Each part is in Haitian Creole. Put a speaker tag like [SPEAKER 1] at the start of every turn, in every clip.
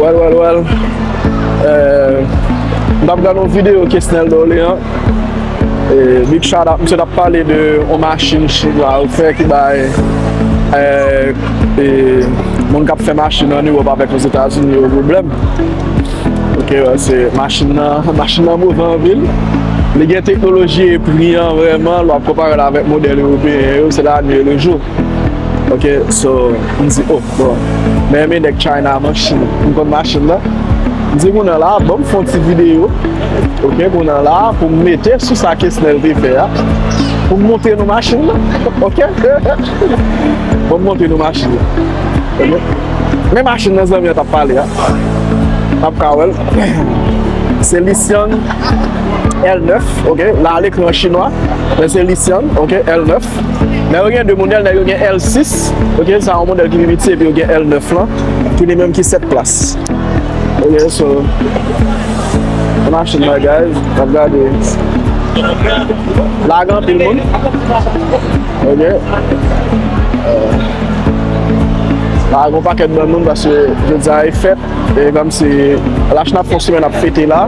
[SPEAKER 1] Well well well Mwen tap gade yon video Kesnel Dorlean Big shout out Misye tap pale de yon machin Chin la yo fè ki bay Moun kap fè machin an Europe avèk Ozetazini yo pwoblèm Ok se machin nan Machin nan move anpil Li gen teknoloji e pri an vrèman lè wap konpare l avèk modèl Europeyen yo se la nwi e le jou Ok so m di oh bon mè renmen nèg China man chou m konn machin nan m di kounè la banm fon ti video ok kounè la pou m mete sou sa Kesnel te fè a pou m montre nou machin nan ok banm montre nou machin nan ok men machin nan zanmi an tap pale a nap ka wèl se Lisyan L9 ok la al ekri an chinwa men se Lisyan ok L9. Men yo gen 2 modèl, nèg yo gen L6, ok, sa yon modèl ki pi piti, epi yo gen L9 lan, ki li menm ki 7 plas. Ok, so, se machin la guys, nap gade. La gen anpil moun. Ok. La gen yon pakèt moun, paske jodi a e fèt. E kom si lach nap fon simen nap fete la.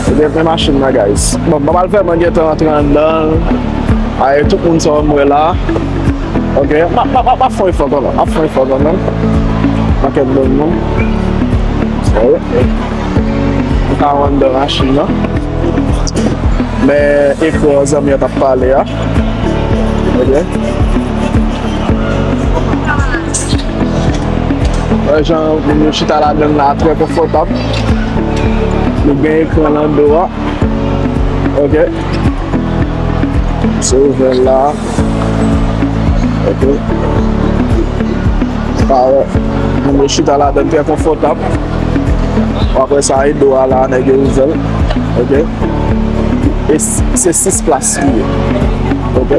[SPEAKER 1] E gen pen machin nan guys. Bon, mwen mal fè mwen gen tan antre an dan. Aye tout moun sa mwen la. Ok, map map map fon efò kon mwen. Map fon efò kon mwen. Mwen kèk bon moun. Sa yo. Mwen ka wan dan machin nan. Men efò zanmi an tap pale a. Ok. Wè jan moun yo chita ladan la trè konfòtab. Nou gen ekran lan do a. Ok. Se ouvè la. Ok. Pa wè. Moun yo chita ladan trè konfòtab. Apre sa e do a la nèg yo ouvè. Ok. E se 6 plas li ye. Ok.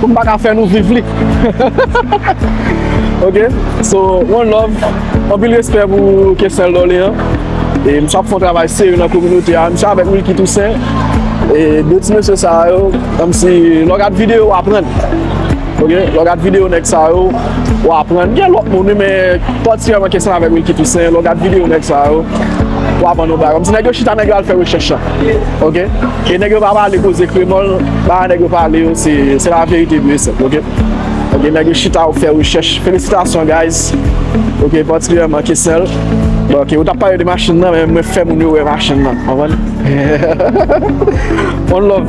[SPEAKER 1] Pou m pa ka fè nou viv li. Ok, so one love. Anpil respè pou Kessel Dorlean. E misye ap fè yon travay serye nan kominote a. Misye avèk Wilky Toussaint. E 2 ti mesye sa yo, kòm si lè w gad videyo w aprann. Ok, lè w gad videyo nèg sa yo, w aprann. Gen lòt moun wi men patikilyaman Kessel avèk Wilky Toussaint. Lè w gad videyo nèg sa yo, w aprann yon bagay. Kòm si nèg yo chita nèg yo al fè rechèch la. Ok. E nèg yo pa pale koze kremòl, bagay nèg yo pale yo se se la verite pur et simple ok. Ok nèg yo chita yo fè rechèch. Felisitasyon guys ok patikilyèman Kesnel. Ok ou tap pale de machin nan men mwen fè moun yo wè machin nan konprann. On love.